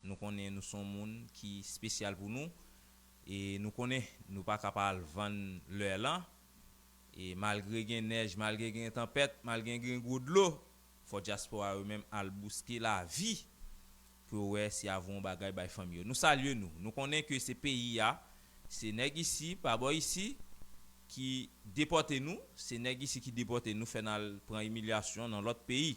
Nou konnen nou son moun ki spesyal pou nou e nou konnen nou pa ka pa al vann leur lan e malgre gen nèj malgre gen tanpèt malgre gen gwo dlo fò dyaspora yo menm al bouske lavi pou yo wè si ya voun bagay bay fanmi yo. Nou salye nou. Nou konnen ke se peyi ya se nèg isi pa bò isi ki depòte nou se nèg isi ki depòte nou fè n al pran imilyasyon nan lòt peyi.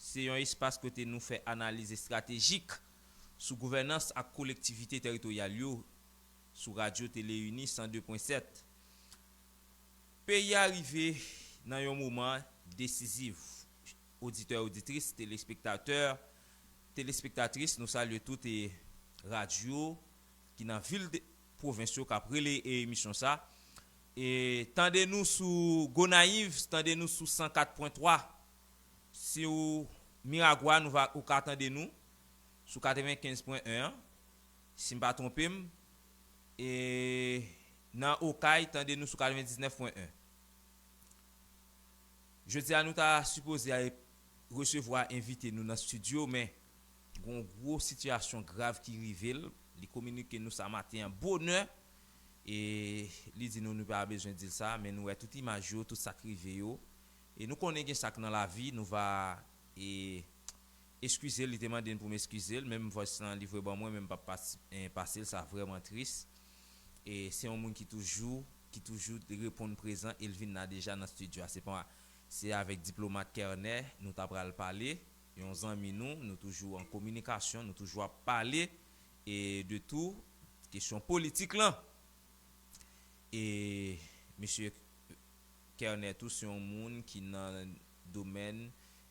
Se yon espas kote nou fè analiz estratejik sou gouvènans ak kolektivite teritoryal yo sou Radyo Teleuni 102 pwen 7. Peyi a rive nan yon moman desiziv oditè oditris, telespektatè, telespektatris nou salye tout e radyo ki nan vil pwovens yo kap rele e emisyon sa e tande nou sou Gonayiv tande nou sou 104 pwen 3 Siw miragwa nou va ou ka tande nou sou 95 pwen 1 an sim pa twonpem e nan okay tande nou sou 99 pwen 1 jodia nou ta sipoze al resevwa envite nou nan studio men gon gwo sitiyasyon grav ki rivel li kominike nou sa maten an bonè e li di nou nou pa bezwen dil sa men nou wè tout imaj yo tout sak rive yo. E nou konnen gen sak nan lavi nou va e eskizel li te mandem poum eskizel menm voice lan li vwe ban mwen men m pap pasel sa vreman tris e se yon moun ki toujou ki toujou reponn prezan el vin la deja nan studio a se pa se avek diplomat kernè nou ta pral pale yon zanmi nou nou toujou an kominikasyon nou toujou ap pale e de tou kesyon politik lan e mesye. Kerner tou se yon moun ki nan domèn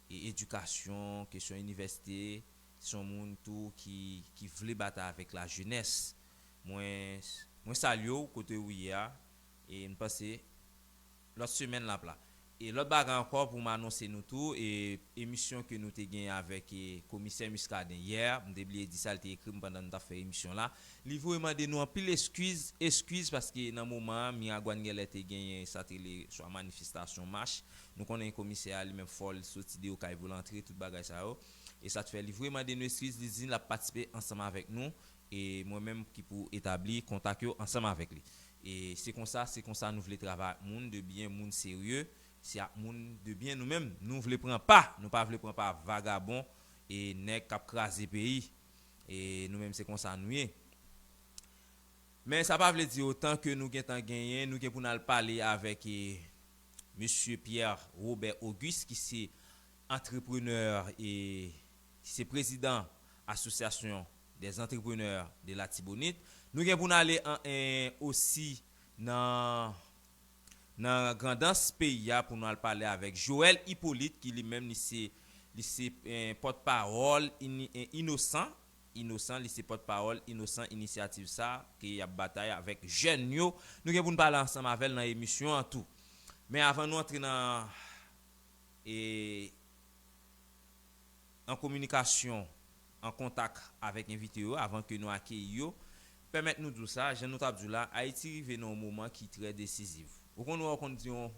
edikasyon, kesyon inivèsite, se yon moun tou ki vle batay avèk lajenès. Mwen salye w kote ou ye a e m panse lòt semèn l ap la. E lòt bagay ankò pou m anonse nou tou, emisyon ke nou te genyen avèk komisè Muscadin yè, m te bliye di sa, li te ekri m pandan nou t ap fè emisyon la, Li vwe mande nou anpil eskiz, eskiz paske nan moman an Miragwàn gen lè te genyen sa te rele swa manifestasyon, mach, nou konnen komisè a li menm fò l soti deyò kay pou l antre tout bagay sa yo. E sa t fè li vwe mande nou eskiz, li di l ap patisipe ansanm avèk nou e mwen menm ki pou etabli kontak yo ansanm avèk li. E se konsa, se konsa nou vle travay ak moun de byen, moun serye, se ak moun de byen nou menm nou vle pran pa, nou pa vle pran pa vagabon e nèg k ap kraze peyi. E nou menm se konsa nou ye. Men sa pa vle di otan ke nou gentan genyen, nou gen pou n al pale avèk Mesye Pierre Robert Auguste ki se antreprenè e ki se prezidan Association des Entrepreneurs de l'Artibonite. Nou gen pou n ale osi nan nan Grandans peyi a pou nou al pale avèk Joel Hyppolite ki li menm li se li se pòt pawòl Inosan Inosan li se pòt pawòl Inosan inisyativ sa ke yap batay avèk jèn yo nou gen pou nou pale ansanm avèl nan emisyon an tou men avan nou antre nan e an kominikasyon. an kontak avèk envite yo avan ke nou akeyi yo, pèmèt nou di w sa, jan nou t ap di w la, Ayiti rive nan yon moman ki trè desiziv. Ou konn wè ou konn di yon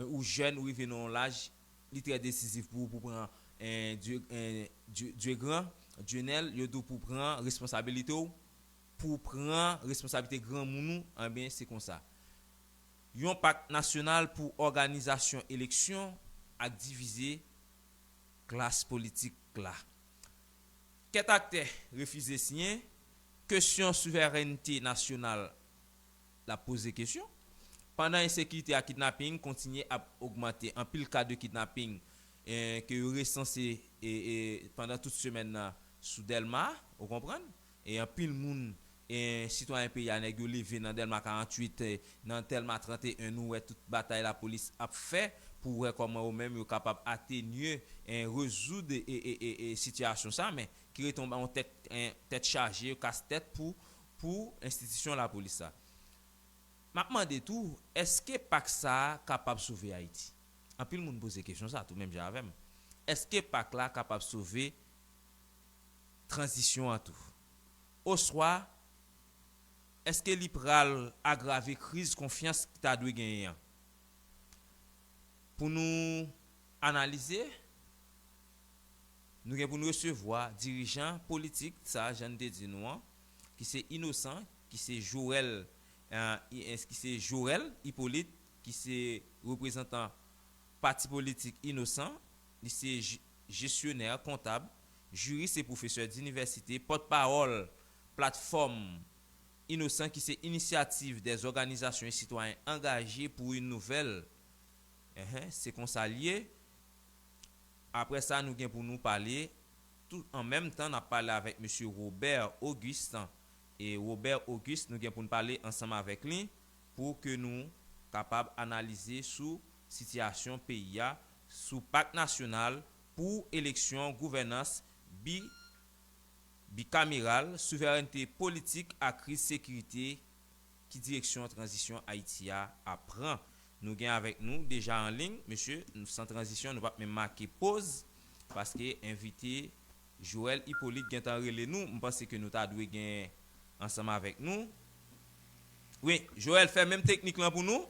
ou jèn, ou rive nan yon laj, li trè desiziv pou ou pou pran Dye gran, Dye nèl, yo di w pou w pran responsabilite w, pou w pran responsabilite granmoun ou, enben se konsa. Yon pak nasyonal pou òganizasyon eleksyon ak divize klas politik la. Kèt aktè refize siyen, kesyon souverènte nasyonal la poze kesyon, pandan ensekirite ak kidnaping kontinye ap ogmante. Anpil ka de kidnaping ke yo resanse pandan tout semèn nan sou Dèlma, ou konprann, E anpil moun e sitwayen peyi a nèg yo leve nan Dèlma 48 e nan Tèlma 31 nou wè tout batay lapolis ap fè pou wè kòman yo menm yo kapab atenye e rezoud e e e sitiyasyon sa men ki rete yon yon tèt e tèt chaje yo kas tèt pou pou enstitisyon lapolis sa. Map mande tou èske pak sa kapab sove Ayiti? Anpil moun poze kesyon sa tou menm jan avèm. Èske pak la kapab sove. tranzisyon an tou? Oswa, èske li pral agrave kriz konfyans ki ta dwe genyen an? Pou nou analize, nou gen pou nou resevwa dirijan politik sa jan n te di nou an, ki se Inosan, ki se Joel, ki se Jorèl Ipolit, ki se reprezantan pati politik Inosan. Li se jesyonè, kontab, jiris e pwofesè dinivèsite, pòtpawòl Platfòm Inosan ki se inisyativ dè zòganizasyon e sitwayen angaje pou yn nouvèl Ehe se konsa l ye Aprè sa nou gen pou nou pale tou an menm tan n ap pale avèk mesye Robert Auguste e Robert Auguste nou gen pou n pale ansanm avèk li pou ke nou kapab analize sou Sitiyasyon peyi a sou Pak Nasyonal pou eleksyon gouvènans bi bikameral, souverènte politik ak kriz sekirite Ki direksyon tranzisyon Ayiti a ap pran? Nou gen avèk nou deja an liy, mesye, nou san tranzisyon nou pap menm make poz paske envite Joel Hyppolite gentan rele nou, m panse ke nou ta dwe gen ansanm avèk nou. Wi, Joel fè menm teknik lan pou nou.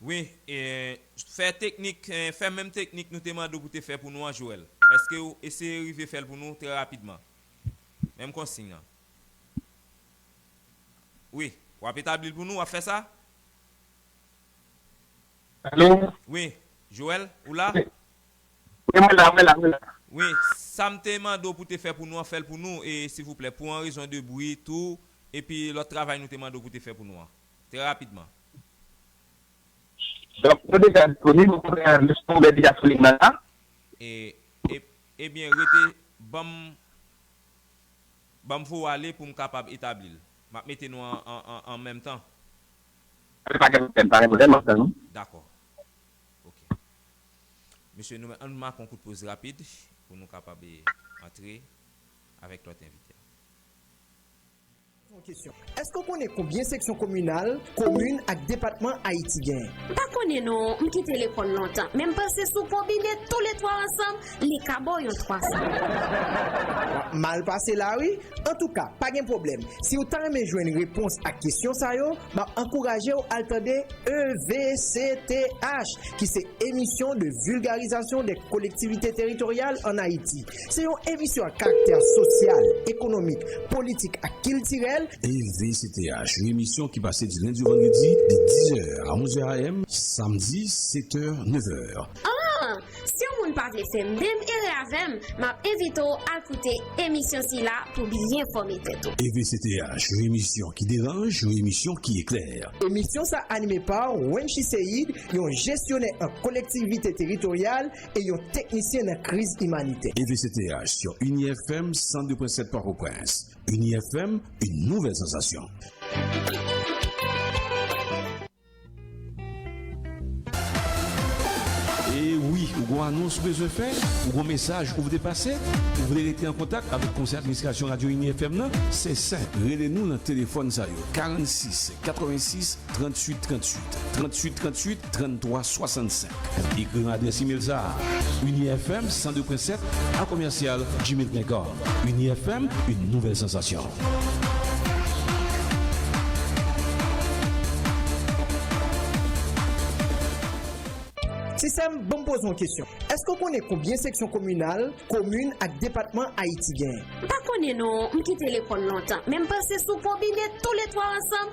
Wi, fè teknik, fè menm teknik nou te mande w pou te fè pou nou an Joel. Eske w eseye rive fè l pou nou trè rapidman? Menm konsign lan. Wi, w ap etabli l pou nou, w ap fè sa? Alo? Wi, Joel, ou la? Wi, mwen la, mwen la, mwen la. Wi, sa m te mande w pou te fè pou nou an, fè l pou nou, e, silvouplè, pou an rezon de bri tou, epi lòt travay nou te mande w pou te fè pou nou an. Trè rapidman. Donk, yo deja disponib, ou konprann an, lèchman ouvè deja sou liy nan la. E, e, ebyen rete, ban m, ban m vowale pou m kapab etabli l. M ap mete nou an, an, an, an menm tan. Ok, pa gen pwoblèm, pa gen pwoblèm, m ap tann ou. Dakò. Ok. Mesye, nou menm, an nou make yon kout poz rapid pou nou kapab e antre avèk lòt envite a. Èske w konnen konbyen seksyon kominal, komin ak depatman Ayiti genyen? Pa konnen non, m kite lekòl lontan, men m panse si w konbine tou le twa ansanm, li ka ba w yon twasan. W ap mal pase la wi. Antouka, pa gen pwoblèm, si w ta renmen jwenn repons ak kesyon sa yo, m ap ankouraje w al tande EVCTH, ki se Émission de vulgarisation des collectivités territoriales en Haïti. Se yon emisyon ak karaktè sosyal, ekonomik, politik ak kiltirèl. EVCTH, yon emisyon ki pase di lendi ou vandredi de 10 zè a 11 zè AM, samdi 7 è, 9 è. Aah! Si yon moun pa vle fè menm erè avè m, m ap envite w al koute emisyon sila pou byen fòme tèt ou. EVCTH, yon emisyon ki deranj, yon emisyon ki eklè. Emisyon sa anime pa Wenchi Seïde, yon jesyonè an kolektivite teritoryal e yon teknisyen nan kriz imanitè. EVCTH sur Unieh FM 102.7 Port-au-Prince. Unieh FM, une nouvelle sensation. E wi, ou gon anons ou bezwen fè? Ou gon mesaj ou vle pase? Ou vle rete an kontak avèk Konsèy Administrasyon Radyo Ini FM nan? Se senp, rele nou nan telefòn sa yo, 46 86 38 38 38 38 33 65 Ekri nan adrès imel sa a, uniefm 102.7 a commercial gmail.com Uniefm, une nouvelle sensation. Ti sè m, ban m poze w yon kesyon. Èske w konnen konbyen seksyon kominal, komin ak depatman Ayiti genyen? M pa konnen non, m kite lekòl lontan. Men m pase sou konbine toule twa ansanm.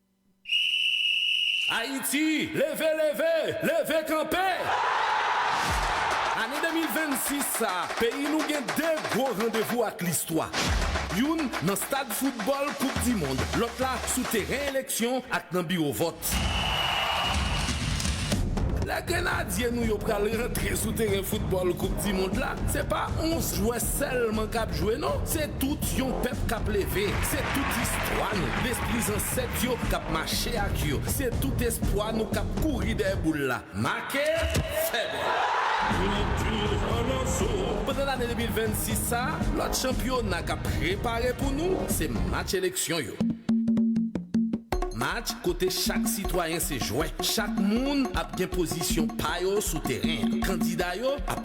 Ayiti, leve, leve! Leve kanpe! Ane 2026 sa a, peyi nou gen 2 gwo randevou ak listwa. Youn nan stad foutbòl koup di mond, lòt la sou teren eleksyon ak nan biwo vòt. Lè grenadye nou yo pral rantre sou teren foutbòl koup di mond la, se pa 11 jwè Sèlman kap jwe non se tout yon pèp kap leve se tout istwa nou lespri zansèt yo kap mache ak yo se tout espwa nou kap kouri dèyè boul la make fè bri. Pandan lane 2026 sa lòt chanpyona kap prepare pou nou se match eleksyon yo match kote chak sitwayen se jwè chak moun ap gen pozisyon pa yo sou teren an kandida yo ap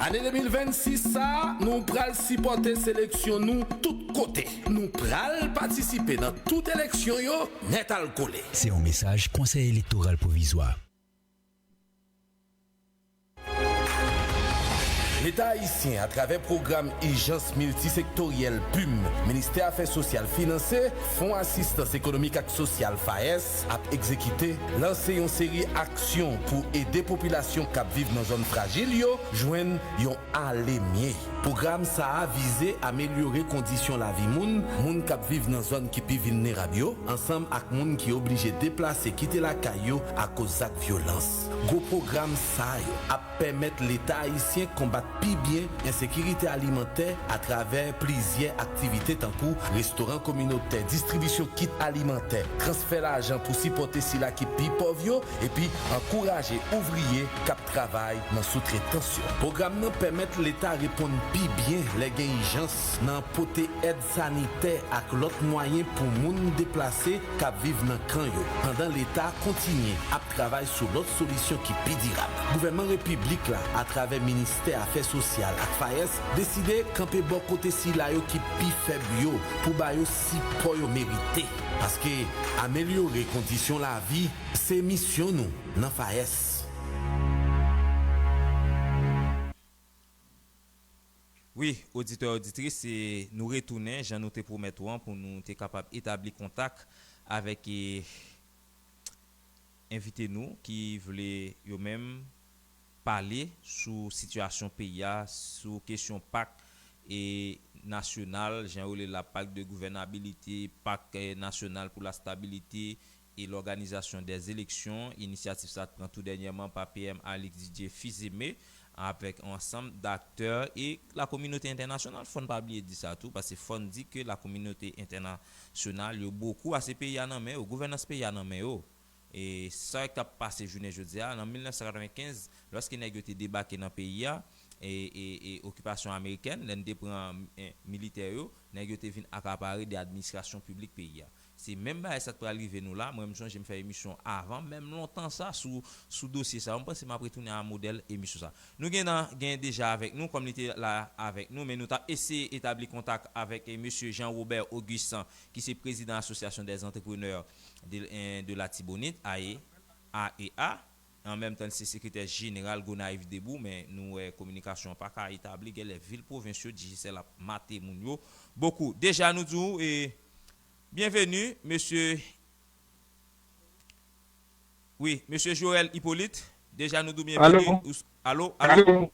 Ane 2026 sa nou pral sipòte seleksyon nou tout kote. Nou pral patisipe nan tout eleksyon yo nètalkole. Se yon mesaj Konsèy Elektoral Pwovizwa. Leta ayisyen atravè pwogram ijans miltisektoryèl, pum, Ministè Afè Sosyal finanse, Fon Asistans Ekonomik ak Sosyal, FAES, Pòtoprens ap egzekite lanse yon seri aksyon pou ede popilasyon k ap viv nan zòn frajil yo jwenn yon ale mye. Pwogram sa a vize amelyore kondisyon lavi moun moun k ap viv nan zòn ki pi vilnerab yo ansanm ak moun ki oblije deplase kite lakay yo akoz zak vyolans. Gwo pwogram sa yo ap. pèmèt Leta ayisyen konbat pi byen ensekirite alimantè atravè plizyè aktivite tankou restoran kominotè, distribisyon kit alimantè, transfè lajan pou sipòte sila ki pi pòv yo, epi ankouraje ouvriye k ap travay nan soutretans yo. Pwogram nan pèmèt Leta reponn pi byen lè gen ijans nan pote èd sanitè ak lòt mwayen pou moun deplase k ap viv nan kan yo, pandan Leta kontinye ap travay sou lòt solisyon ki pi dirab. Gouvènman Repiblik la, atravè Ministè Afè Sosyal ak FAES, deside kanpe bò kote sila yo ki pi fèb yo pou ba yo sipò yo merite, paske amelyore kondisyon lavi se misyon nou nan FAES. Wi, oditè oditris, nou retounen jan nou te pwomèt ou an pou nou te kapab etabli kontak avèk envite nou ki vle yo menm pale sou sitiyasyon peyi a, sou kesyon pak nasyonal, jan yo rele la, Pacte de gouvernabilité, Pacte national pour la stabilité, e lòganizasyon 2 eleksyon, inisyativ sa t pran tou dènyèman pa PM Alix Didier Fils-Aimé avèk yon ansanm daktè e la kominote entènasyonal fòn pa bliye di sa tou pase fòn di ke la kominote entèna syonal yo bokou ase peyi a nan men yo gouvènans peyi a nan men yo e sa kap pase jounen jodi a nan 1995 lòske nèg yo te debake nan peyi a e e e okipasyon amerikèn lè n te pran militè yo nèg yo te vin akapare de administrasyon piblik peyi a Se menm bagay sa k pral rive nou la, mwen m sonje m fè emisyon avan menm lontan sa sou sou dosye sa yo, m panse m ap retounen a modèl emisyon sa. Nou gen nan gen deja avèk nou kòm li te la avèk nou men nou t ap eseye etabli kontak avèk mesye Jean Robert Auguste ki se prezidan Association des Entrepreneurs de de l'Artibonite, ae, AEA. An menm tan li se sekretè jeneral Gonayiv Debou men nou wè kominikasyon an pa ka etabli genlè vil pwovens yo Digicel ap mate moun yo bokou. Deja nou di w byenveni mesye wi mesye Jorel Hyppolite deja nou di w byenveni ou s Alo alo Alo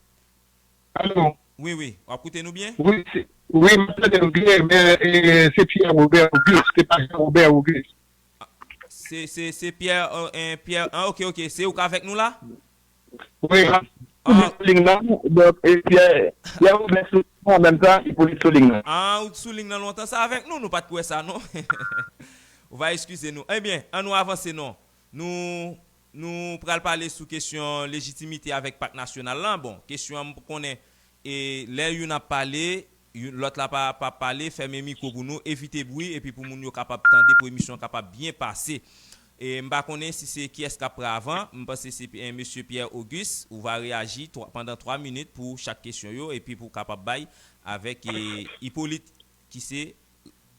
Alo Wi wi w ap koute nou byen? Wi se wi m ap tande nou byen men se Pierre Robert Auguste se pa Jean Robert Auguste. Se se se Pierre en Pierre an ok ok se ou k avèk nou la? Wi map sou ling nan donk e Pierre Pierre Robert sou ling nan an menm tan e Pauly sou ling nan. Ah ou t sou ling nan lontan sa avèk nou nou pat k wè sa non ou va eskize nou ebyen an nou avanse non nou nou pral pale sou kesyon lejitimite avèk pak nasyonal lan bon kesyon an m p konnen e lè youn ap pale Youn lòt la pa pa pale, fèmen mikwo pou nou, evite bwi epi pou moun yo kapab tande pou emisyon an kapab byen pase. E m pa konnen si se kiyès k ap pre avan, m panse se Mesye Pierre Auguste, ou va reyaji pandan 3 minit pou chak kesyon yo epi pou w kapab bay avèk Hyppolite ki se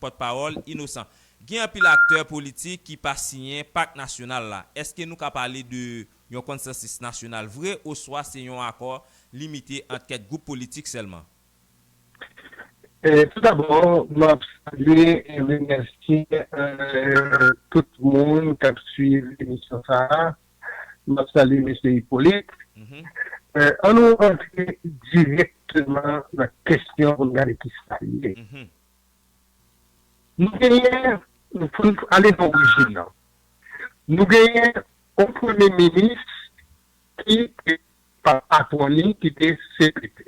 pòtpawòl Innocent. Gen anpil aktè politik ki pa siyen Pak Nasyonal la. Èske nou ka pale de yon konsansis nasyonal vre oswa se yon akò limite ant kèk gwoup politik sèlman? Tout dabò, m ap salye e remèsye tout moun k ap suiv emisyon sa a. M ap salye Mesye Hyppolite. An nou rantre dirèkteman nan kesyon pou n gade ki sa li ye. Nou genyen, pou n ale nan orijin nan, nou genyen yon Premye Minis ki te pa patwon li, ki te CPT.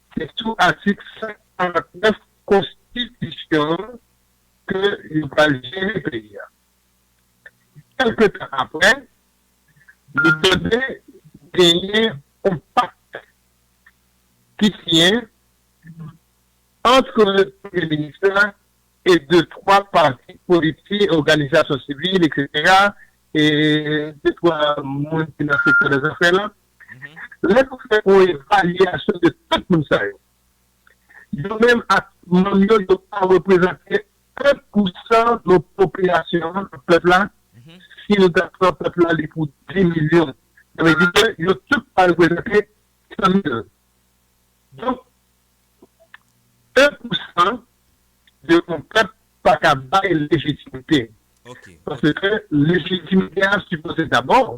Se sou atik 149 konstitisyon an ke yo pral jere peyi a. Kèlke tan aprè, li mande genyen yon pakte ki siyen antre premye minis la e de twa pati politik, òganizasyon sivil, eksetera, e de twa moun ki nan sektè dè zafè lan Lè nou fè yon evalyasyon de tout moun sa yo, yo menm ak manm yo, yo pa reprezante 1 pou 100 nan popilasyon an, nan pèp la, si nou ta pran pèp la li pou 10 milyon, sa vle di ke yo tout pa reprezante 100 mil. Donk, 1 pou 100 de yon pèp pa ka bay lejitimite, paske lejitimite a sipoze dabò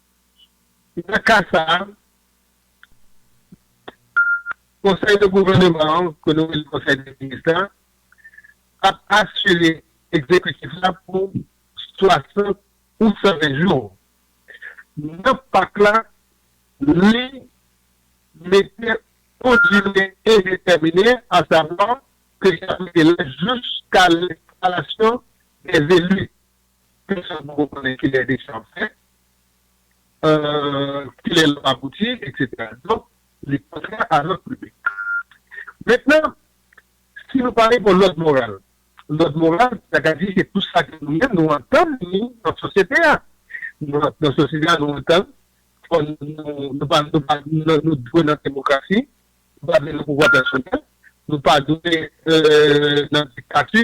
Nan ka sa a, Konsèy de gouvèneman an, ke nou rele Konsèy de minis la, ap asire egzekitif la pou 60 ou 120 jou. Nan pak la, li mete on dire endetèmine, asavwa, ke li ap mete la jiska enstalasyon dè zeli. pèsòn poko konnen kilè eleksyon ap fèt, kilè l ap abouti, eksetera. Donk, li kontrè a lòd piblik. Mentnan, si nou pale pou lòd moral, lòd moral, sa ka di se tout sa ke nou menm nou antann ni nan sosyete a. Nan sosyete a, nou antann fò nou pa nou dwe nan demokrasi, nou pa dwe nan pouvwa pèsonèl, nou pa dwe nan diktati.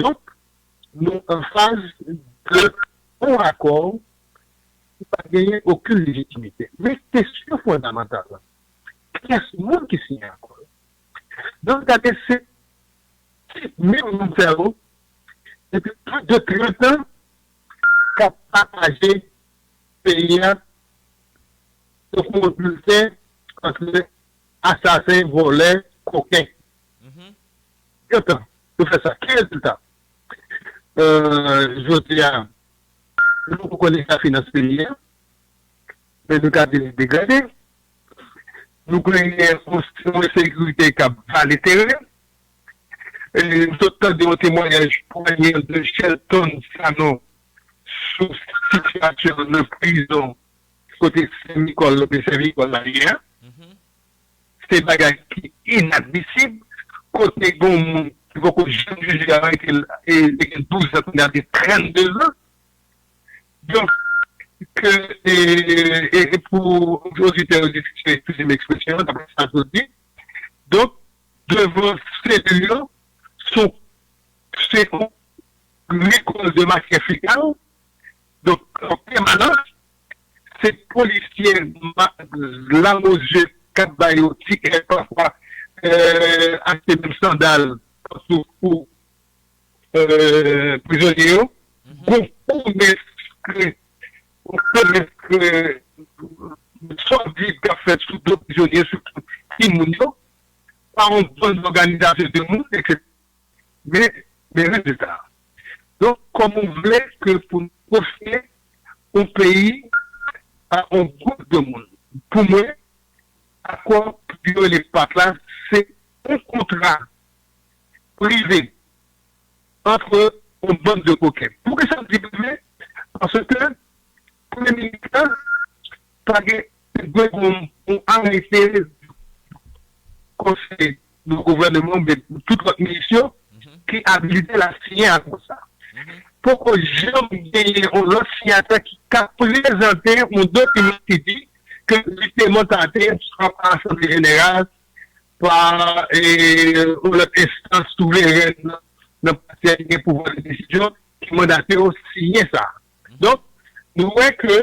Donk, nou an faz de on akò ki pa genyen okenn lejitimite. Men kesyon fondamantal la, kyès moun ki siyen akò yo? Nan w gade se ti menm moun sa yo depi plis de 30 an k ap pataje peyi a tankou yon bilten antre asasen, vòlè, koken. Gen tan yo fè sa. Ki rezilta? Jodi a, nou poko konn eta finans peyi a, men nou ka di li degrade. Nou genyen yon ensekirite k ap vale teren. M sot tande yon temwanyaj pwayèn de Shelton Sanon sou sitiyasyon nan prizon kote Sen Mikòl, Lòbèy Sen Mikòl la ye a. Se bagay ki inadmisib kote gon moun ki poko janm jije a rete l e li gen 12 zan kounya li gen 32 zan donk ke e pou oditè yo diskite eskize m ekspresyon an daprè sa yo di donk devan selil yo sou se yon rekòl de matyè fekal donk an pèmanans se polisye lamozye kap ba yo ti èd pafwa achte menm sandal kap sou kou prizonye yo gon komès kre gon komès kre sòdiv kap fèt sou do prizonye sitou timoun yo pa yon bann òganizasyon de moun etc. Men, men rezilta a. Donk, kòman ou vle ke pou nou kofye yon peyi a yon gwoup de moun? Pou mwen, akò ke yo rele pact la, se yon kontra prive antre yon bann de koken. Poukisa m di prive? Paske premye minis la pa gen Tout gwo bonm pou Arly Ferre konsèy nan gouvèneman oubyen tout lòt minis yo ki abilite l ap siyen akò sa. Poko janm genyen yon lòt siyatè ki ka prezante yon dokiman ki di ke li te mandate swa pa asanble jeneral, pa yon lòt enstans souverèn nan pati a ki gen pouvwa de desizyon ki mandate w siyen sa. Donk, nou wè ke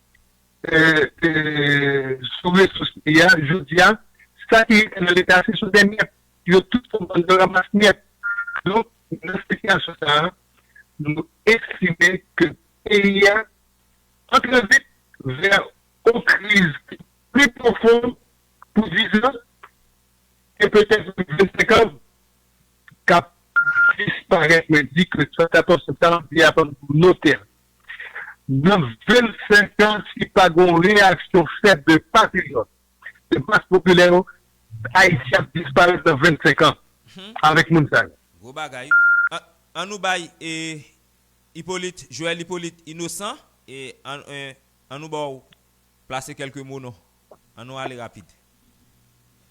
sou resous li a jodi a, sa ki rete nan leta se sou 2 myèt, yo tout fon bann de ramas myèt. Donk nan sitiyasyon sa a, nou estime ke peyi a antre vit vè on kriz ki pi pwofon pou 10 an e petèt pou 25 an k ap disparèt, mwen di ke 74 septanm, li apan pou note l. Nan 25 an si pa gen yon reyaksyon fèt de patriyòt, de mas popilè yo, Ayiti ap disparèt nan 25 an avèk moun sa yo. Gwo bagay. An nou bay Hyppolite, Joel Hyppolite Innocent, an nou ba w plase kèlke mo non. An nou ale rapid.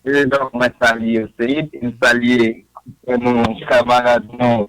Prezidan, mwen salye w Seid e m salye kamarad nou.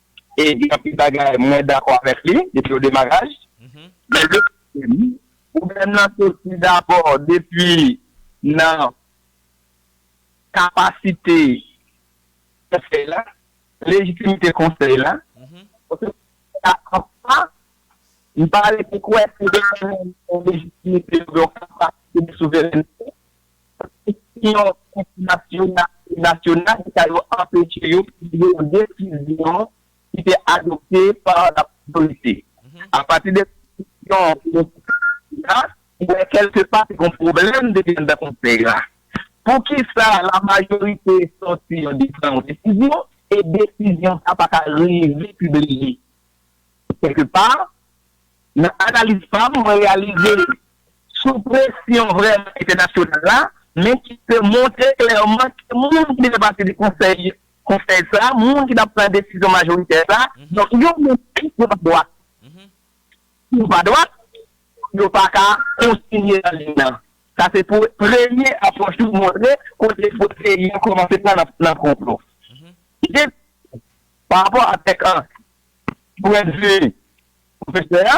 e gen anpil bagay mwen dakò avèk li depi o demaraj, men yo di m pwoblèm lan soti dabò depi nan kapasite konsèy la, lejitimite konsèy la, paske jiska anfwa m pa rete kwè se yo ki gen lejitimite oubyen kapasite de souverènte. Kondisyon entènasyonal e nasyonal ki ta yo anpeche yo pibliye yon desizyon ki te adopte pa laprès politik. Apati de kondisyon ke nou te ka di la, ou wè kèlke pa te gen yon pwoblèm depi anndan konsèy la. Poukisa lamajorite sòti yo di pran yon desizyon e desizyon sa a pa ka rive pibliye? Kèlke pa, nan analiz pa m, mwen reyalize sou presyon vrèman entènasyonal la, men ki te montre klèman ke moun ki te fè pati de konsèy konsèy sa, moun ki t ap pran desizyon majoritè sa, donk yo menm tou yo pa dwat. Si yo pa dwat, yo pa ka kontinye nan liy nan. Sa se pou premye apwòch ki montre kote fòs peyi an kòmanse pran nan konplo. Dezyèm bagay, pa rapò avèk pwendvi pwofesè a,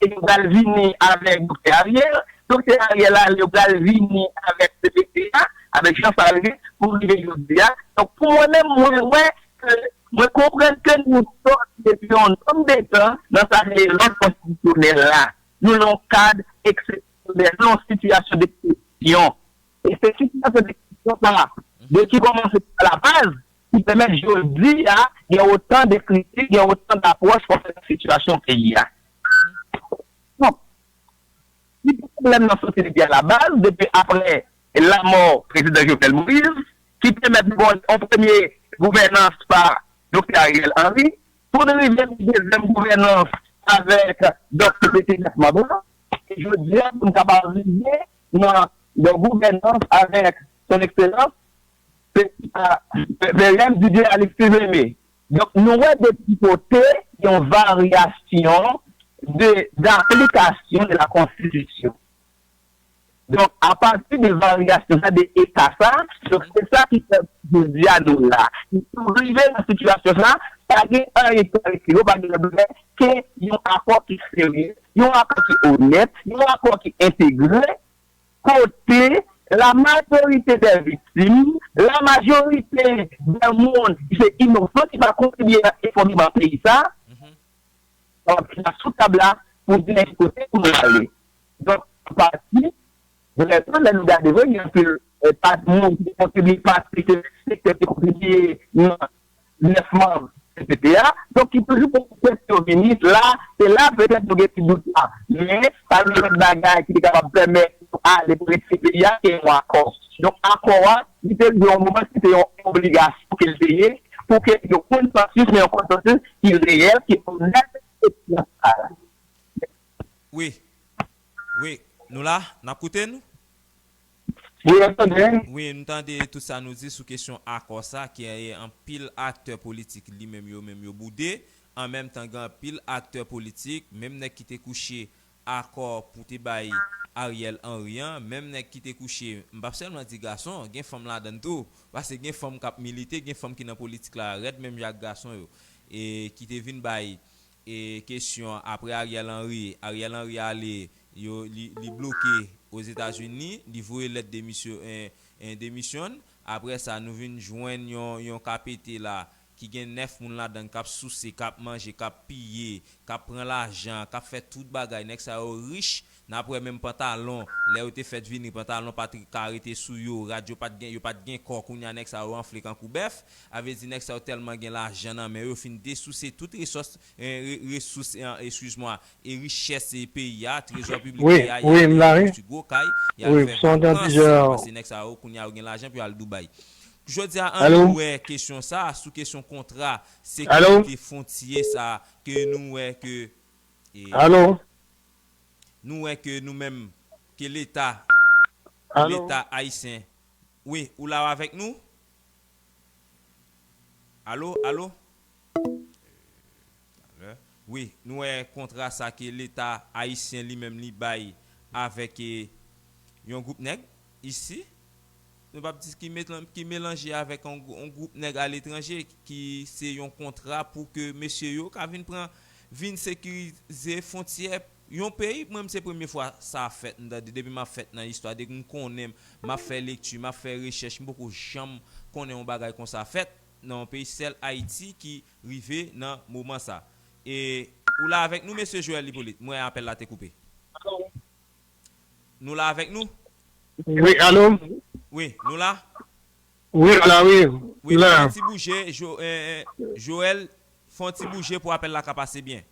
E yo pral vini avèk Doktè Ariel, Doktè Ariel ale yo pral vini avèk cpt a, avèk Jean Charles pou rive jodi a. Donk pou mwen menm mwen wè ke mwen konprann ke nou sòti depi yon nonm de tan nan sa rele lòd konstitisyonèl la. Nou nan yon kad eksepsyonèl, nou nan yon sitiyasyon deksepsyon. E se sitiyasyon deksepsyon sa a depi kòmanse pa la baz ki pèmèt jodi a gen otan de kritik, gen otan dapwòch konsènan sitiyasyon peyi a. Donk, si pwoblèm nan soti depi alabaz, depi apre lanmò Prezidan Jovenel Moïse, ki pèmèt nou gen yon premye gouvènans pa Doktè Ariel Henry, pou n rive nan dezyèm gouvènans avèk Doktè Berthelot Mandrin, e jodi a pou n kapab rive nan yon gouvènans avèk Son Ekselans Se sa Merriam di byen Alix li menmen. Donk nou wè de ti kote yon varyasyon de d'aplikasyon de la konstitisyon. Donk a pati de varyasyon sa de eta sa, donk se sa ki fè jodi a nou la. Nou rive nan sitiyasyon sa, pa gen anyen ki ale pi lwen, pa gen lòt bagay ke yon akò ki serye, yon akò ki onèt, yon akò ki entegre. kote la majorite dè viktim, la majorite dè moun ki se inosan ki pa kontribye nan efondreman peyi sa, ap chita sou tab la pou di men ki kote pou nou ale. Donk, an pati, vrèman lè nou gade vre gen anpil pa moun ki te kontribye pase ke sektè ki kontribye nan 9 manb cpt a, donk ki toujou pou kèk yo vini la, se la petèt nou gen ti dout la, men pa gen lòt bagay ki te kapab pèmèt yo ale pou retire peyi a ke yon akò. Donk akò a, li te rive yon moman ki se yon obligasyon ke li te ye, pou ke yon konsansis, men yon konsansis ki reyèl, ki onèt e ki transparan. Mèsi. Wi. Wi. Nou la, n ap koute nou. Wi map tande. Wi m tande tout sa nou di sou kesyon akò sa ke anpil aktè politik li menm yo menm yo boude an menm tan gen anpil aktè politik menm nèg ki te kouche akò pou te bay Ariel Henry an menm nèg ki te kouche m pap sèlman di gason gen fanm ladann tou paske gen fanm kap milite gen fanm ki nan politik la rèd menm jan ak gason yo e ki te vin bay E kesyon apre Ariel Henry, Ariel Henry ale yo li bloke Ozetazini, li voye lèt demisyon en demisyon n, apre sa nou vin jwenn yon KPT la ki gen 9 moun ladann kap souse, kap manje, kap piye, kap pran lajan, kap fè tout bagay, nèg sa yo rich, Nap wè menm pantalon, lè yo te fèt vini pantalon pat ka rete sou yo, rad yo pat gen, yo pat gen kò kounya nèg sa yo anfle kankou bèf, avle di nèg sa yo tèlman gen lajan nan men yo, yo fin desouse tout resòs, resous excuse moi, e richès peyi a, trezò piblik peyi a, yal devan konstwi gwo kay, yal fè vakans, pase nèg sa yo kounya yo gen lajan pou yal Dubai. Jodi a an nou wè kesyon sa, sou kesyon kontra sekirite fwontyè sa ke nou wè ke e. Nou wè ke nou menm ke leta leta ayisyen wi ou la ou avèk nou? Alo alo talè wi nou wè kontra sa ke leta ayisyen li menm li bay avèk yon gwoup nèg isi. Nou pap di ki melanje avèk yon gwoup nèg aletranje ki se yon kontra pou ke mesye yo ka vin pran, vin sekirize fontyè yon peyi. Mwen m se premye fwa sa ap fèt m tande depi m ap fèt nan istwa, depi m konnen, m ap fè lekti, m ap fè rechèch m poko janm konnen yon bagay konsa fèt nan yon peyi sèl Ayiti ki rive nan moman sa. E ou la avèk nou mesye Joel Hyppolite? M wè apèl la te koupe. Alo? Nou la avèk nou? Wi alo? Wi nou la? Wi nou la wi. Wi fè yon ti bouje Joel fè yon ti bouje pou apèl la ka pase byen.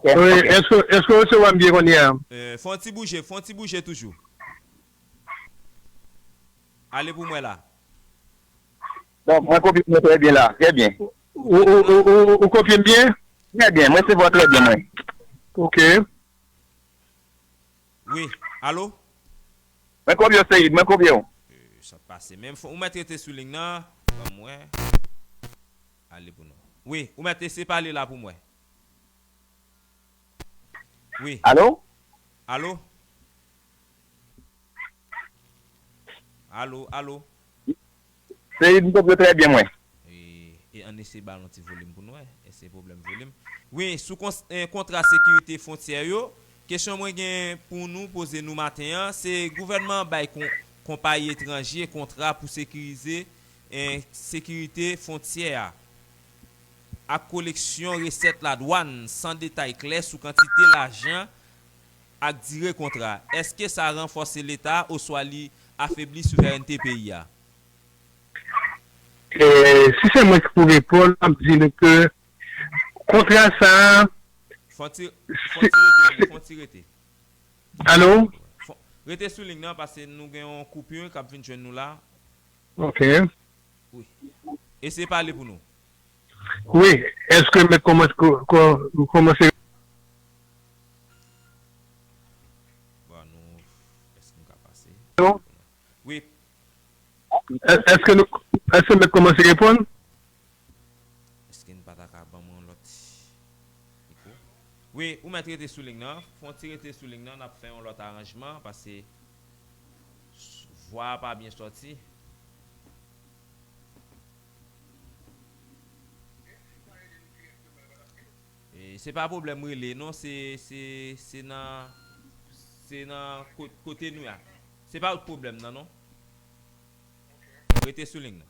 Wi èske ou rese wèm byen konnye a? Fè yon ti bouje fè yon ti bouje toujou. Ale pou mwen la. Bon mwen kopye mwen trè byen la trè byen. Ou kopye m byen? Trè byen mwen resevwa trè byen mwen. Ok. Wi alo. Mwen kob yo seyid mwen kob yo. Eeh sak pase menm fon ou met rete sou ling nan banm wè ale pou nou wi ou met ese pale la poum wè wi alo alo. Alo, alo. Seid m tandw trè byen mwen. E ann eseye ba l yon ti volim pou n wè, èske se pwoblèm volim. Wi, sou kontra sekirite fwontyè yo, kesyon mwen gen pou nou poze nou maten an, se gouvènman an bay konpayi etranje kontra pou sekirize sekirite fwontyè a ak koleksyon resèt ladwàn san detay klè sou kantite lajan ak dire kontra, èske sa ranfòse Leta oswa li afebli souverènte peyi a? Si se mwen ki pou reponn, m ap di nou ke kontra sa a. Fon ti rete la, fon ti rete. Alo? Rete sou ling nan paske nou gen yon koupur k ap vin jwenn nou la. Ok. Wi. Eseye pale pou nou. Wi eske met komanse rekonstwi. Eske met komanse reponn. Eske nou pata ka banm yon lot mikro. Wi ou met rete sou lign nan. Fon ti rete sou lign nan nap fe yon lot aranjman paske vwa a pa byen soti. Se pa problem rele non se nan se nan kote nou ya se pa ou t problem nan non rete sou ling nan.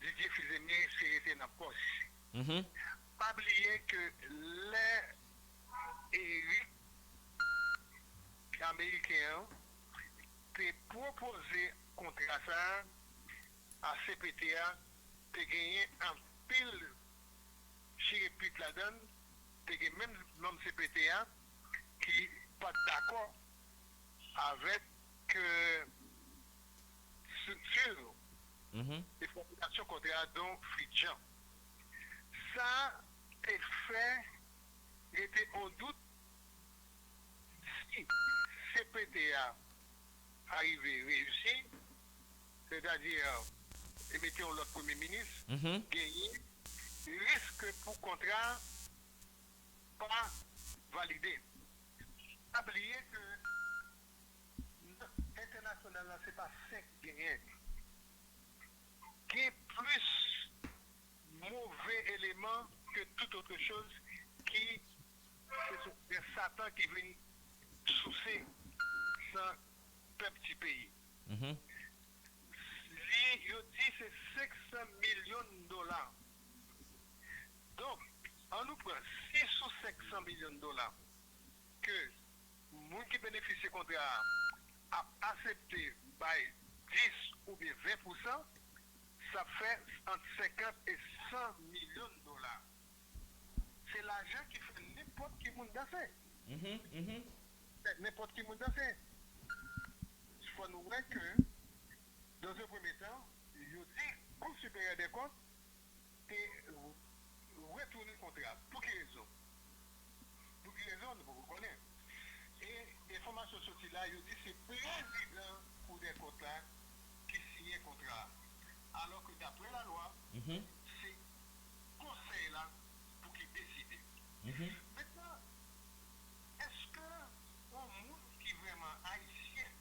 Didier Fils-Aimé se rete nan pòs. Pa bliye ke lè Eric ameriken an te pwopoze kontra sa a cpt a te genyen anpil chire pit ladan l, te gen menm manm cpt a ki pat dakò avèk Structure e formulation kontra a Don Fridjan. Sa te fè rete on dout si cpt a ta rive reyisi, sètadi te mete on lòt premye minis, genyen risk pou kontra a pa valide. Pa bliye ke Nan entènasyonal la se pa 5 k genyen. Gen plis move eleman ke tout otre choz ki se sou grès satan ki vin souse san pèp ti peyi. Li yo di se 500 milyon dola. Donk an nou pran si sou 500 milyon dola ke. Moun ki benefisye kontra a ap asepte bay 10 oubyen 20 pousan, s ap fè ant 50 e 100 milyon dola. Se lajan ki fè nenpòt ki moun danse. Fè nenpòt ki moun danse. Fò nou wè ke, dans un premier temps, yo di Cour Supérieure des Comptes te retounen kontra a. Pou ki rezon? Pou ki rezon, nou poko konnen. E enfòmasyon soti la, yo di se prezidan Koudèkont la ki siyen kontra a. Alò ke daprè lalwa, se Konsèy la pou ki deside. Mentnan, èske yon moun ki vrèman Ayisyen,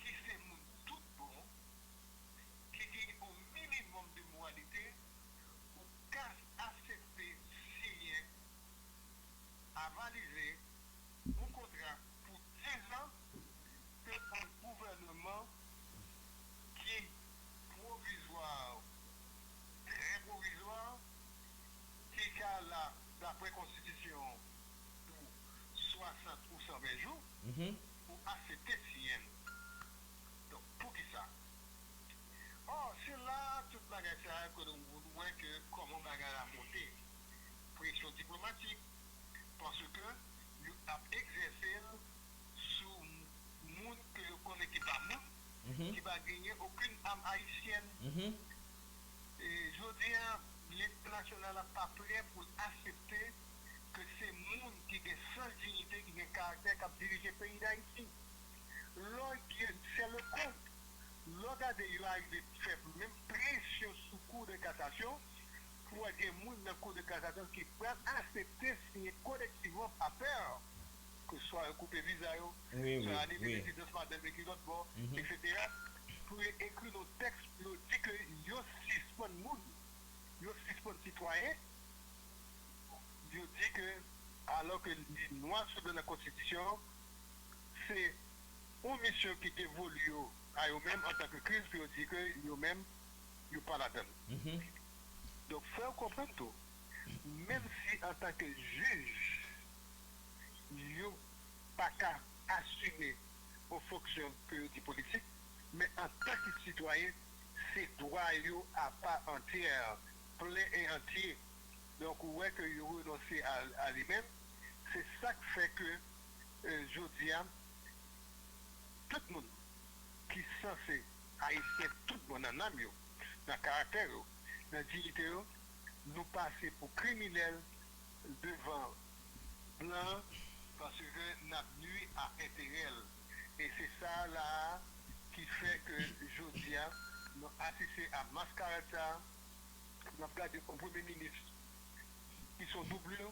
ki se moun tout bon, ki gen yon minimòm de moralite, ou ka asepte siyen, avalize, yon kontra pou dizan ke yon gouvèneman ki pwovizwa, trè pwovizwa, ki ka la dapre konstitisyon an pou 60 ou 120 jou, ou asepte siyen l. Poukisa? Or se la a tout bagay sa yo ke nou wè ke kòman bagay la monte. Presyon diplomatik, paske yo ap egzèse l sou moun ke yo konnen ki pa moun, ki pa genyen okenn am ayisyèn. E jodi a lentènasyonal la pa prè pou l asepte ke se moun ki gen sans dinite, ki gen karaktè k ap dirije peyi Dayiti. lò gen sè Leconte lò gade yo arive fè menm presyon sou kou de kasasyon pou wè gen moun nan kou de kasasyon ki pral asepte siyen kolektivman papè ke swa yo koupe viza yo swa yo anile rezidans madanm yo ki lòt bò etc pou yo ekri yon tèks pou yo di ke yo sispann moun yo sispann sitwayen yo di ke alò ke li nwa sou blan nan konstitisyon. se yon misyon ki devolu yo a yo menm antan ke Kris pou yo di ke yo menm yo pa ladan l. Donk fò yo konprann tou, menm si antan ke jij yo pa ka asime yon fonksyon ke yo di politik, men antan ke sitwayen se dwa yo a pa antyè, plen e antye. Donk ou wè ke yo renonse a li menm, se sa k fè ke. jodi a tout moun ki sanse ayisyen tout bon nan nanm yo, nan karaktè yo, nan diyite yo, nou pase pou kriminèl devan blan an paske nap nwi a enterè l e se sa la a ki fè ke jodi a nou asiste a maskarad sa a, nap gade yon premye minis ki son doublure.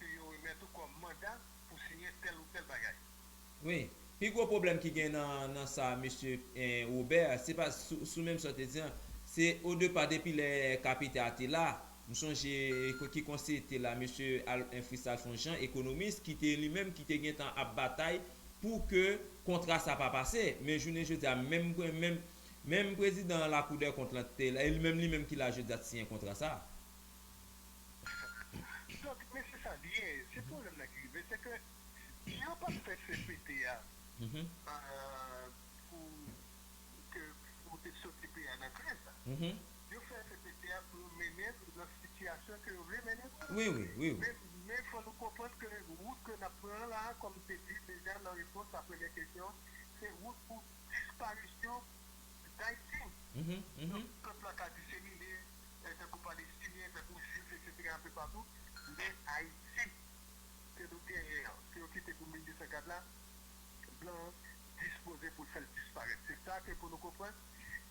ke yo remèt ou kòm manda pou siyen tèl ou tèl bagay. Wi. Pi gwo pwoblèm ki gen nan nan sa mesye Robert, se pa sou menm sa w te di an, se odepa depi lè Capita a te la, m sonje ki konseye te la mesye Frist Alphonse Jean, ekonomis, ki te li menm ki te gen tan ap batay pou ke kontra sa pa pase. Men jounen jodi a menm menm menm prezidan lakoudèkont lan ki te la e li menm li menm ki la jodi a t siyen kontra sa. Donk men se sa li ye, se pwoblèm nan ki rive se ke si yo pa t fè cpt a pou ke pou te soti peyi a nan kriz la, yo fè cpt a pou yo mennen l nan sitiyasyon ke yo vle mennen l la. Men fò nou konprann ke wout ke n ap pran an la a kòm m te di deja nan repons a premyè kesyon an se wout pou disparisyon Dayiti. Donk pèp la ka disemine. fè tankou palestinyen, tankou jwif eksetera anpe patou, men Ayiti ke nou genyen an, ke yo kite pou 1204 la, blan an dispoze pou l fè l disparèt. Se sa ke pou nou konprann,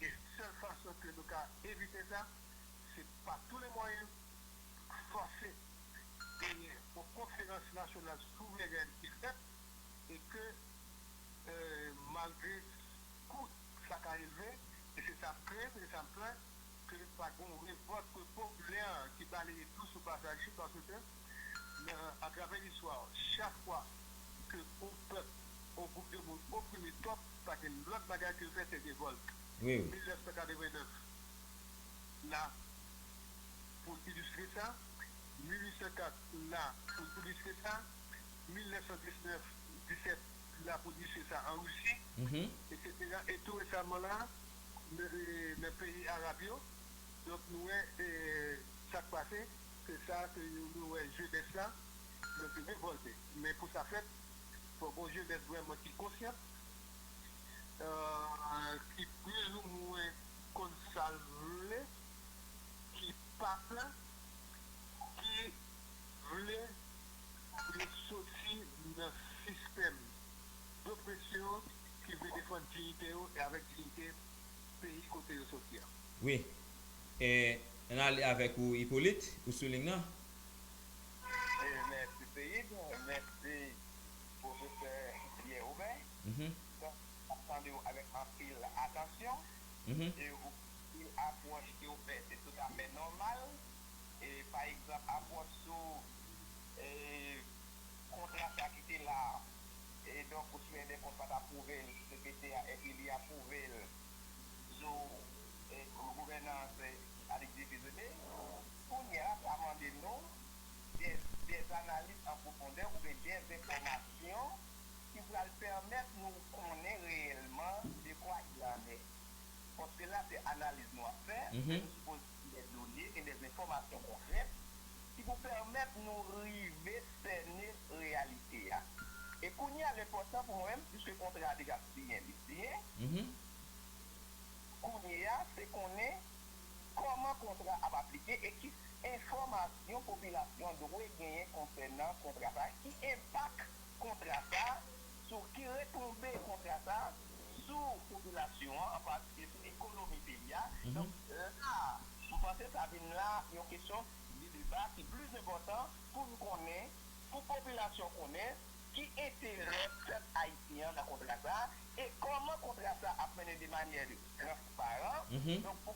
e sèl fason ke nou ka evite sa, se pa tou le mwayen fòse genyen yon konferans nasyonal souverèn ki fèt, e ke malgre kou sa ka elve, e se sa m krenn, se sa m pè, ke pa gen yon revòlt popilè ki baleye dlo sou pasaj li paske nan atravè listwa chak fwa ke yon pèp yon gwoup de moun oprime twòp pa gen lòt bagay ke yo fè se revòlt 1989 la pou ilistre sa 1804 la pou ilistre sa 1919 17 la pou ilistre sa an Russie etc e tou resaman la. nan peyi Arab yo donk nou wè sak pase se sa ke nou wè jenès la yo te revòlte men pou sa fèt fò gon jenès vrèman ki konsyant ki plis ou mwen konn sal vle ki pa pè ki vle pou yo soti nan sistèm dopresyon. ki vle defann diyite yo e avèk diyite peyi kote yo soti a. Wi. E n ale avèk ou Ipolit, ou sou ling nan. Mèsi Seyid, mèsi Pwofesè Pyè Obè. Donk, m ap tande w avèk anpil atansyon e ou di apwòch ke w fè se toutafè nòmal. E pa egzanp apwòch sou kontra sa ki te la a. E donk ou sou Edè Kont pat apwouve l sou CPT a epi li apwouve l sou Gouvènans Atik 2 Piso 2. Kounyè a sa mande nou dè analiz an pwofondè oubyen dè enfòmasyon ki pral pèmèt nou konnen reyèlman dekwa il en est. Paske la se analiz nou ap fè e nou sipoze. Gen dè done, gen dè enfòmasyon konkrèt ki pou pèmèt nou rive sène reyalite a. E kounye a l enpòtan pou mwen menm, piske kontra a deja siyen, li siyen, kounye a se konnen kòman kontra a ap aplike e ki enfòmasyon popilasyon an dwe genyen konsènan kontra sa a, ki enpak kontra sa a sou ki retonbe kontra sa a sou popilasyon an, an patikilye sou ekonomi peyi a. Donk, la a, m panse sa vin la yon kesyon de deba ki plis enpòtan pou n konnen, pou popilasyon konnen ki enterè pèp ayisyen an nan kontra sa a e kòman kontra sa a ap mennen de manyè transparan. Donk, pou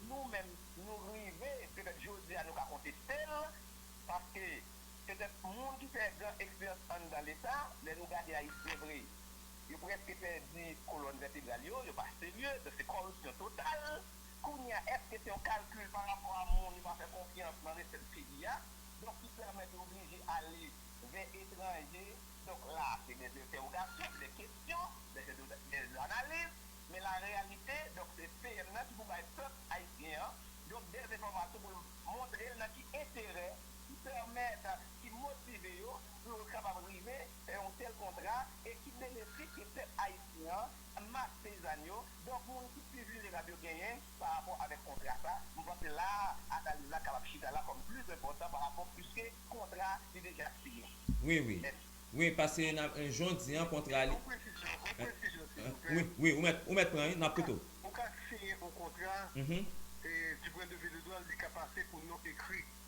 nou menm nou rive, petèt jodi a nou ka konteste l, paske Petèt moun ki fè gran eksperyans anndan leta, lè nou gade ayisyen vre, yo prèske pèdi kolòn vètebral yo, yo pa serye, donk se kòripsyon total. Kounye a, èske se yon kalkil pa rapò a moun yo pa fè konfyans nan resèt peyi a, donk ki pèmèt yo oblije ale vè etranje, donk la a se dè entèwogasyon, se dè kesyon, dè analiz, men la reyalite, donk se PM nan ki pou bay pèp ayisyen an, donk dè enfòmasyon pou l montre l nan ki enterè. ki pèmèt, ki motive yo pou yo kapab rive fè yon tèl kontra e ki benefis ke pèp ayisyen an, mas peyizàn yo, donk moun ki pi vilnerab yo genyen pa rapò avèk kontra sa. M panse la a analiz la kapab chita la kòm pli enpòtan pa rapò piske kontra li deja siyen. Wi, wi. Mèsi. Wi, paske nan jou w di an kontra li. Yon presizyon, yon presizyon silvouplè. Wi, wi, ou mèt, ou mèt pran wi, n ap koute w. Ou ka siyen yon kontra, e du point de vue legal li ka pase pou nou ekri.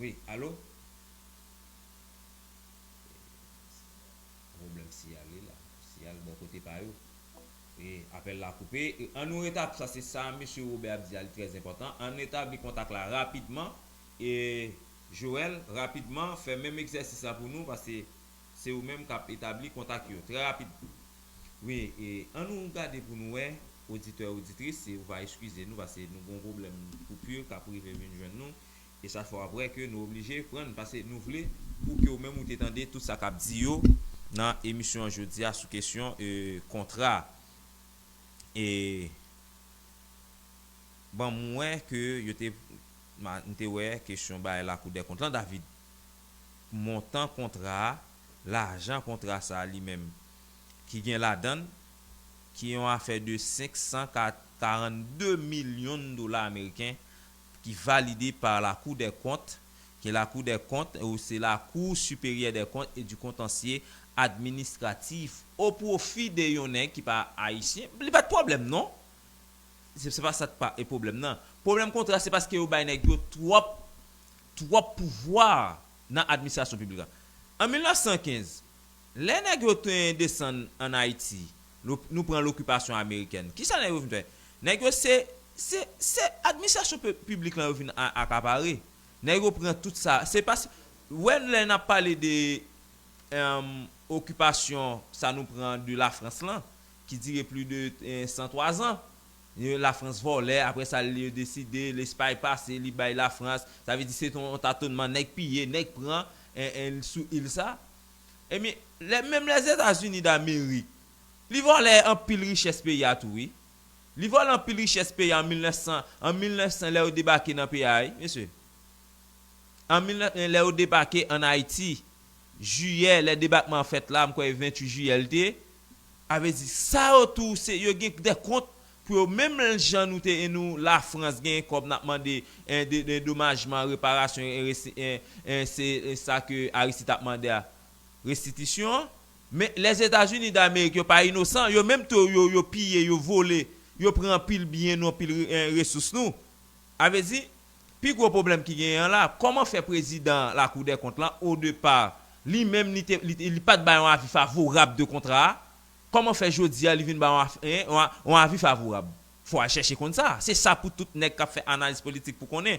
Wi alo Pwoblèm siyal wi la Siyal bò kote pa yo Wi apèl la koupe An nou retab sa se sa mesye Robert ap di a li trè enpòtan An retabli kontak la rapidman e Joel rapidman fè menm egzèsis la pou nou paske Se ou menm kap etabli kontak yo trè rapid wi e an nou gade pou nou wè oditè oditris si ou va eskize nou pase nou gon pwoblèm koupi kap rive vin jwenn nou e chak fwa wap wè ke nou oblije pran n pase nou vle pou ke ou menm ou te tande tout sa kap di yo nan emisyon an jodi a sou kesyon e kontra e banm wè ke yo te m te wè kesyon bay lakou dèkont lan David. montan kontra a, lajan kontra sa a li menm, ki gen ladan l, ki yon afè de 542 milyon dola ameriken, ki valide pa Lakou dè Kont, ke Lakou dè Kont, ou se La Cour Supérieure des Comptes et du Contentieux Administratif, o pwofi de yon nèg ki pa Ayisyen, li pa t pwoblèm non! Se pa sa k pa e pwoblèm nan. Pwoblèm kontra se paske yo bay nèg yo twòp twòp pouvwa nan administrasyon piblik la. An 1915, lè nèg yo te desann an Ayiti, nou pran lokipasyon amerikèn, ki sa nèg yo vin fè? Nèg yo se, se, se administrasyon piblik lan yo vin akapare. Nèg yo pran tout sa. Se pa si, wè lè n ap pale de okipasyon sa nou pran de Lafrans lan, ki dire plis de 103 zan, Yon la France vòlè aprè sa li yo deside lespay pase li bay la France sa vle di se te yon tatonman nèg piye nèg pran sou il sa ebyen lè menm lèzetazini damerik li vòlè anpil richès peyi a tou wi li vòlè anpil richès peyi a an 1900 an 1900 lè yo debake nan peyi a wi mesye an 1900 lè yo debake an ayiti jiyè lè debakman an fèt la mkwè 28 jiyè li te A vle di sa yo tou se yo gen de kont pou yo menm jan nou te en nou la frans gen kob nap mande en de domajman reparasyon en resi en en se sa ke Aristide tap mande a restitisyon an men les etats unis d'Amerique yo pa inosan yo menm tou yo yo piye yo vole yo pran anpil byen nou anpil en resous nou a vle di Pi gwo pwoblèm ki genyen an la, kòman fè prezidan lakoudèkont lan o depa li menm li te li pat bay yon avi favorab de kontra a, kòman fè jodi a li vin bay yon avi favorab? Fò al chèche konn sa. Se sa pou tout nèg kap fè analiz politik pou konnen.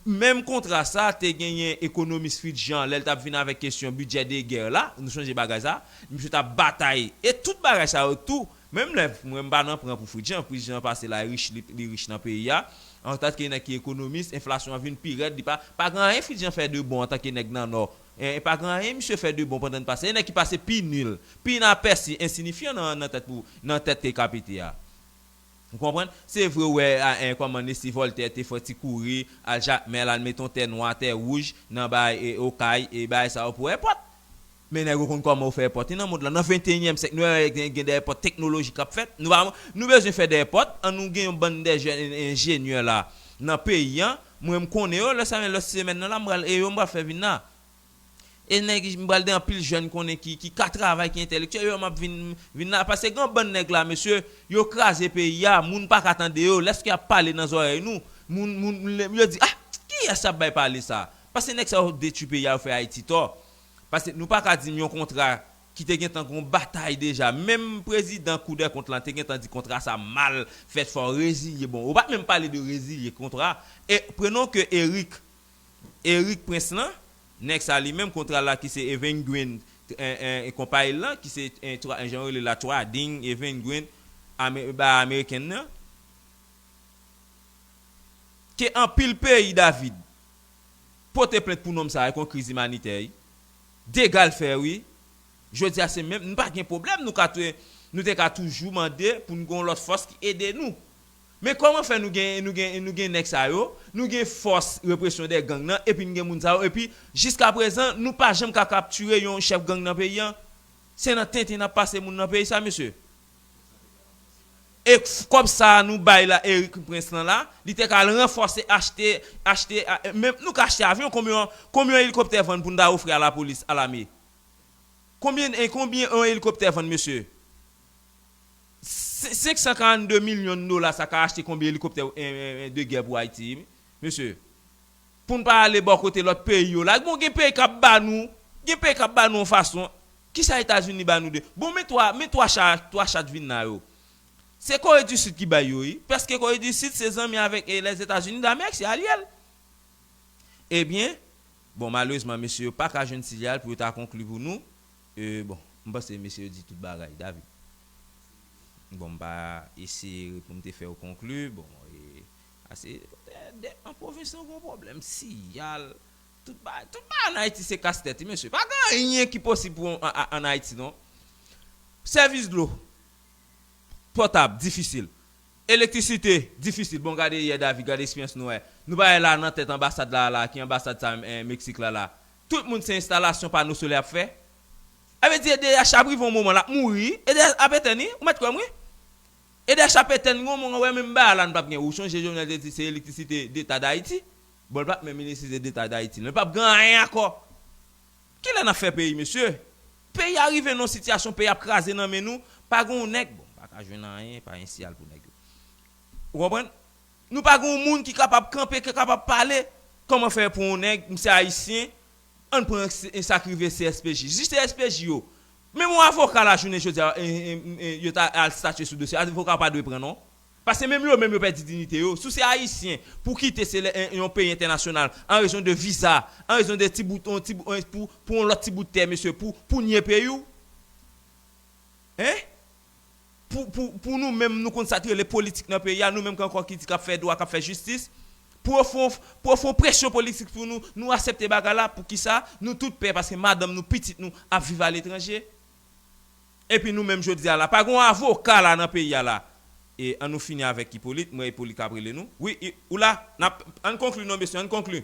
Menm kontra sa te genyen ekonomis Fritz Jean lè l tap vin avèk kesyon bidjè de gè la, nou sonje bagay sa, misye tap batay e tout bagay sa yo tou Menm lè mwen m pa nan pran pou frit jan pris jan pase la rich li rich nan peyi a antant ke nèg ki ekonomis enflasyon an vin pi rèd li pa pa gen anyen frit jan fè de bon antant ke nèg nan nò en pa gen anyen misye fè de bon pandan n pase e nèg ki pase pi nil pi inapèsi ensinifyan nan nan tèt pou nan tèt ke ka pete a ou konprann se vre ou wè a en kòman nesi vòltè te fè ti kouri al jakmèl al mete yon tè nwa tè wouj nan bay e okay e bagay sa yo pou èpòt. Men nèg yo konn kòman yo fè èpòt wi nan mond lan nan 21 yèm syèk nou wè gen gen dè èpòt teknoloji kap fèt nou pa nou bezwen fè dè èpòt an nou gen yon bann dè jèn enjenyè la nan peyi an mwen m konnen yo lè sa men lòt semèn nan la m pral e yo m pral fè vin la e nèg m pral gen anpil jèn konnen ki ki ka travay ki entèlektyèl yo map vin vin la paske gen yon bann nèg la mesye yo kraze peyi a moun paka tande yo lèske yap pale nan zòrèy nou moun moun yo di ah kiyès yap bay pale sa paske nèg sa yo detwi peyi a yo fè Ayiti tò. Paske nou pa ka di m yon kontra ki te gentan gon batay deja, menm prezidan kou dè kont lan te gentan di kontra sa mal fèt fò rezilye bon ou pa menm pale de rezilye kontra e prenons ke Eric Eric prince lan nèg sa li menm kontra la ki se Evenguin e konpay l lan ki se jan yo rele l la Trading Evenguin bay ameriken nan ke anpil peyi David. pote plent pou nonm sa ekon kriz imanitè ui degal fè ui jodia se menm nou pa gen pwoblèm nou ka te nou te ka toujou mande pou nou gen yon lòt fòs ki ede nou men kòman fè nou gen nou gen nou gen nèg sa yo nou gen fòs represyon dè gang nan epi nou gen moun sa yo epi jiska prezan nou pa janm ka kaptire yon chèf gang nan peyi an se nan tenten nap pase moun nan peyi sa mesye. E kob sa nou bay la Eric prince lan la li te ka al ranfose achte achte menm nou ka achte avyon konbyn konbyn yon elikoptè vann pou nou ta ofri a la polis a lame konbyn konbyn yon elikoptè vann mesye 542 milyon dola sa ka achte konbyn elikoptè de gè pou ayiti mesye. Poun pa ale bò kote lòt peyi yo la bon gen peyi kap ba nou gen peyi kap ba nou yon fason kisa etazini ba nou de bon men 3 men 3 cha 3 chat vin la yo se kore di sid ki bay yo wi pèske kore di sid se zanmi avèk lèzetazini damerik se alyel ebyen bon malerezman mesye yo paka jwenn silyal pou yo ta konkli pou nou e bon m panse mesye yo di tout bagay david bon m pa eseye poum te fèw konkli bon e. Ase de an pwovens nou gon pwoblèm siyal, tout bagay, tout bagay an Ayiti se kas tèt wi mesye, pa gen anyen ki posib pou an Ayiti non. Sèvis dlo potab difisil, elektrisite difisil, bon gade yè David gade esperyans nou wè, nou pa wè la nan tèt anbasad la a la, ki anbasad sa menm en Meksik la la, tout moun se enstalasyon pano solè yap fè, sa vle di edh ap rive yon moman lap mouri, edh ap etèn wi, ou mèt kwèm wi. Eder sa pe tenn gonmon an wè menm ba a la n pap gen ou sonje jovenel te di se electricite deta dayiti bon l pap menm electricite deta dayiti nan l pap gen anyen anko kilè nap fè peyi mesye peyi a rive nan yon sitiyasyon peyi ap kraze nan men nou pa gen yon nèg bon paka jwenn anyen pa gen siyal pou nèg yo ou konprann nou pa gen yon moun ki kapab kanpe ki kapab pale kòman fè pou yon nèg m se ayisyen ann pran sa k rive cspj jis cspj yo Menm yon avoka la jounen jodi a yo ta al statye sou dosye a avoka pa dwe pran non. Paske menm yo menm yo pèdi dinite yo. Si w se ayisyen pou w kite se lè yon peyi entènasyonal an rezon de viza, an rezon de ti bout yon ti pou yon lòt ti bout tè mesye pou pou w nye peyi w. Hein? pou pou pou nou menm nou konn sa t rele politik nan peyi a nou menm k ankò ki di kap fè dwa kap fè jistis pou yo fon pou yo fon presyon politik sou nou nou asepte bagay la poukisa nou tout pè paske madanm nou pitit nou ap viv aletranje epi nou menm jodi a la pa gon avoka la nan peyi a la e an nou fini avèk Ipolit m wè Ipolit kap rele nou wi ou la nap ann konkli non mesye ann konkli.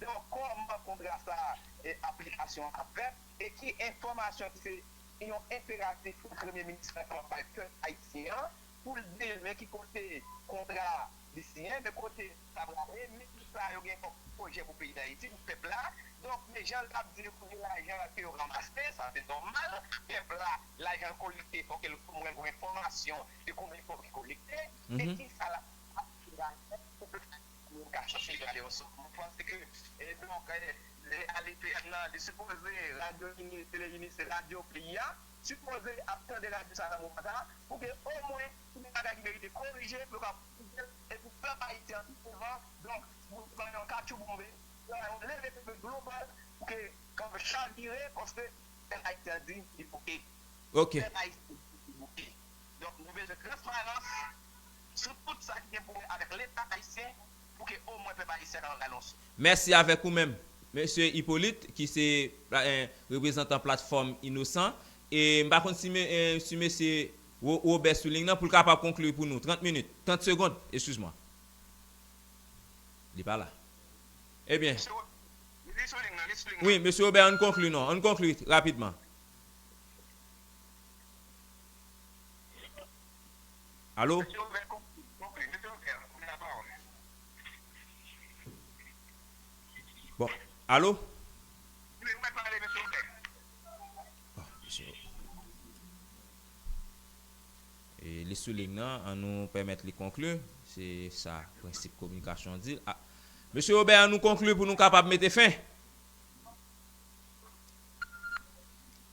dan kòman kontra sa a aplikasyon an ap fèt e ki enfòmasyon ki se yon enperatif pou Premye Minis la kapab bay pèp ayisyen an pou l di men ki kote kontra li siyen, men kote sa prale, men ki sa yo gen kòm pwojè pou peyi Dayiti, pou pèp la. Donk, men jan l t ap di yo pou gen lajan ke yo ranmase, sa se nòmal, pèp la lajan l kolekte fò ke l mwen gen enfòmasyon de konbyen fò ki kolekte e ki sa l ap fè ak lajan pou pèp la. pou yo ka chache gade yon sòt moun panse ke e donk lè ADPM nan li sipoze radyo ini tele ini se radyo peyi a sipoze ap tande radyo sa nan moman sa pou ke omwen si gen bagay ki merite korije pou yo ka korije l e pou pèp ayisyen an pi devan donk pou yo bay yon katchoubonbe pou yo bay yon leve kanpe global pou ke kanpe chavire paske pèp ayisyen an di li bouke pèp ayisyen an di li bouke. Donk nou bezwen transparans sou tout sa ki gen pou wè avèk leta ayisyen pou ke o mwen pèp ayisyen ka anba yon souf. Mèsi avèk ou menm Mesye Hyppolite ki se reprezantan platfòm Inosan e m pa konn si Mesye Robert sou lign nan pou l kapab konkli pou nou 30 minit, 30 segond, eskiz mwen. Li pa la. Ebyen. Mesye Robert li sou lign nan, li sou lign nan. Wi, Mesye Robert an n konkli non, an n konkli rapidman. Alo? Bon, alo? E li sou ling nan, an nou pèmèt li konkli, se sa prensip kominikasyon di. A, Mesye Robert an nou konkli pou nou kapab mete fen.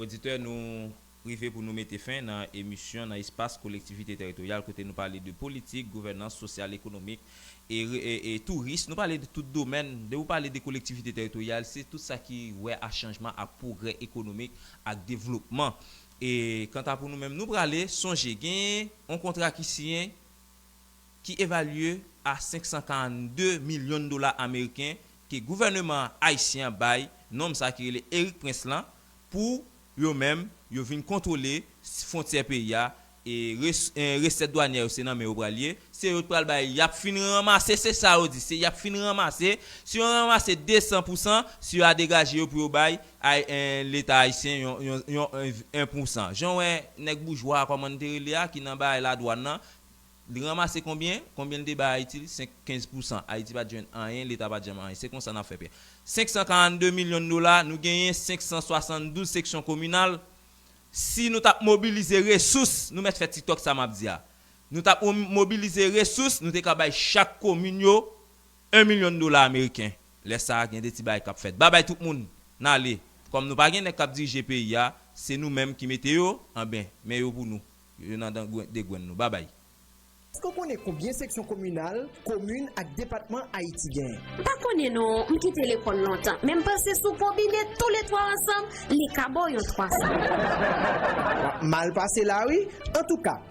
Oditè nou rive pou nou mete fen nan emisyon nan espas kolektivite teritoryal kote nou pale de politik, gouvènans, sosyal, ekonomik e touris. Nou pale de tout domèn. Depi ou pale de kolektivite teritoryal se tout sa ki wè a chanjman ak pwogrè ekonomik ak devlopman. E kanta pou nou menm nou prale sonje genyen yon kontra ki siyen. ki evalye a 542 milyon dola ameriken ke gouvèneman ayisyen an bay nonm sa ki rele Erik Prince lan pou yo menm yo vin kontwole fwontyè peyi a e resèt dwanyè yo se nan men yo pral ye se yo t pral bay yap fin ranmase se sa yo di se yap fin ranmase si yo ranmase 200 pou san si yo a degaje yo pou yo bay leta ayisyen yon 1 pou san jan w wè nèg boujwa a kòman n te rele a ki nan bay ladwann lan Li ranmase konbyen? Konbyen li te bay Ayiti? Li se 15 pousan. Ayiti pa t jwenn anyen, Leta pa t janm anyen. Se kon sa n ap fè pè. 542 milyon dola, nou genyen 572 seksyon kominal. Si nou t ap mobilize resous, nou mèt fè tiktok sa m ap di a. Nou t ap mobilize resous, nou te ka bay chak komin yo 1 milyon dola ameriken. Lè sa a, gen de ti bagay k ap fèt. Babay tout moun! N ale. Kòm nou pa gen nèg k ap dirije peyi a, se nou menm ki mete yo, anben, men yo pou nou. Yo nan dan gwen degwenn nou. Babay. Eske w konnen konbyen seksyon kominal, komin ak depatman Ayiti gen? M pa konnen non, m kite lekòl lontan, men m panse si w konbine tou le twa ansanm, li ka ba w yon 300. Wap mal pase la wi, antouka pa.